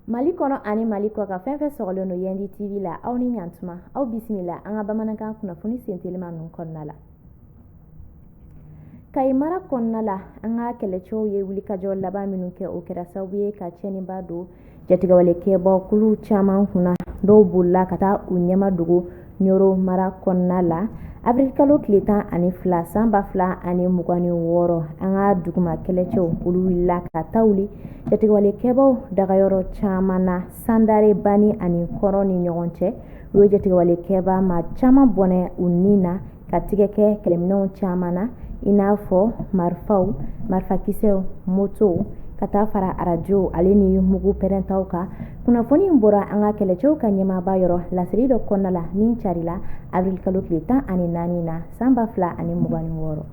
mali kɔnɔ ani mali kɔkan fɛn fɛn sɔgɔlen don yandi tv la aw ni ɲantuma aw bisimila an ka bamanankan kunnafoni sentelima ninnu kɔnɔna la kayi mara kɔnɔna la an ka kɛlɛcɛw ye wulikajɔ laban minnu kɛ o kɛra sababu ye ka tiɲɛniba don jatigɛwalekɛba kulu caman kunna dɔw bolila ka taa u ɲɛmadogo Nioro mara kɔnɔna la avril kalo tile tan ani fila san ba fila ani mugan ni wɔɔrɔ an ka duguma kɛlɛcɛw olu wulila ka ta wuli jatigɛwalekɛbaw dagayɔrɔ caman na sandare bani ani kɔrɔn ni ɲɔgɔn cɛ u ye jatigɛwalekɛba maa caman bɔnɛ u ni na ka tigɛ kɛ kɛlɛminɛnw caman na i n'a fɔ marifaw marifakisɛw motow ka taa fara arajow ale ni mugu pɛrɛntaw kan kunnafoni in bɔra an ka kɛlɛcɛw ka ɲɛmaaba yɔrɔ laseli dɔ kɔnɔna la min carila avril kalo tile tan ani naani na san ba fila ani mugan ni wɔɔrɔ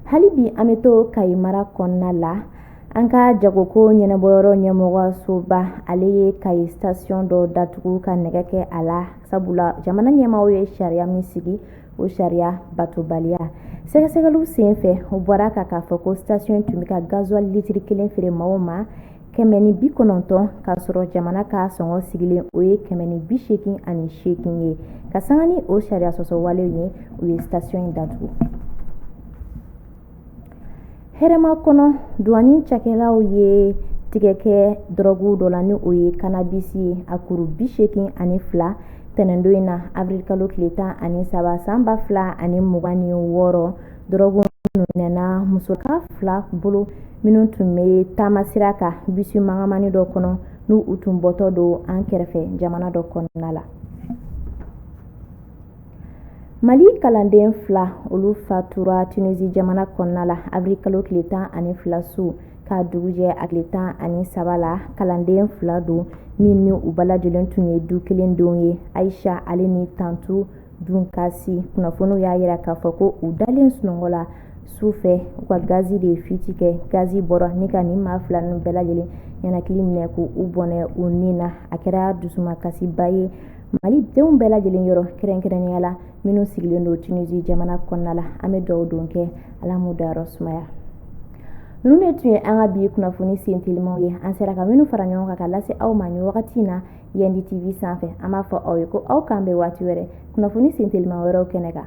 hali bi an bɛ to kayi mara kɔnɔna la an ka jagoko ɲɛnabɔyɔrɔ ɲɛmɔgɔsoba ale ye kayi station dɔ datugu ka nɛgɛ kɛ a la sabula jamana ɲɛmaaw ye sariya min sigi o sariya batobaliya sɛgɛsɛgɛliw sen fɛ o bɔra ka k'a fɔ ko station tun bɛ ka gazuwali litiri kelen feere maaw ma kɛmɛ ni bi kɔnɔntɔn k'a sɔrɔ jamana ka sɔngɔ sigilen o ye kɛmɛ ni bi seegin ani seegin ye ka sanga ni o sariya sɔsɔ walew ye u ye station in datugu hɛrɛmakɔnɔ duwani cakɛlaw ye tigɛ kɛ dɔrɔguw dɔ la ni o ye kanabisi ye a kuru bi seegin ani fila tɛnɛndon in na avril kalo tile tan ani saba san ba fila ani mugan ni wɔɔrɔ dɔrɔgu minɛna musoka fila bolo minnu tun bɛ taamasira kan bisi mangamani dɔ kɔnɔ n'u tun bɔtɔ don an kɛrɛfɛ jamana dɔ kɔnɔna la mali kalanden fila olu fatura tunisi jamana kɔnɔna la avril kalo tile tan ani fila su ka dugujɛ a tile tan ani saba la kalanden fila don min ni u bɛɛ lajɛlen tun ye du kelen denw ye ayisa ale ni tantu dunkasi kunnafoniw y'a jira k'a fɔ ko u dalen sunɔgɔ la su fɛ u ka gazi de ye fiti kɛ gazi bɔra ni ka nin maa fila ninnu bɛɛ lajɛlen ɲɛnakili minɛ k'u bɔnɛ u ni na a kɛra dusumakasiba ye mali denw bɛɛ lajɛlen yɔrɔ kɛrɛnkɛrɛnnenya la minnu sigilen don tunisi jamana kɔnɔna la an bɛ dugawu don kɛ ala m'u dayɔrɔ sumaya ninnu de tun ye an ka bi kunnafoni sen telimaw ye an sera ka minnu fara ɲɔgɔn kan ka lase aw ma nin wagati in na yandi tv sanfɛ an b'a fɔ aw ye ko aw k'an bɛn waati wɛrɛ kunnafoni sen telima wɛrɛw kɛnɛ kan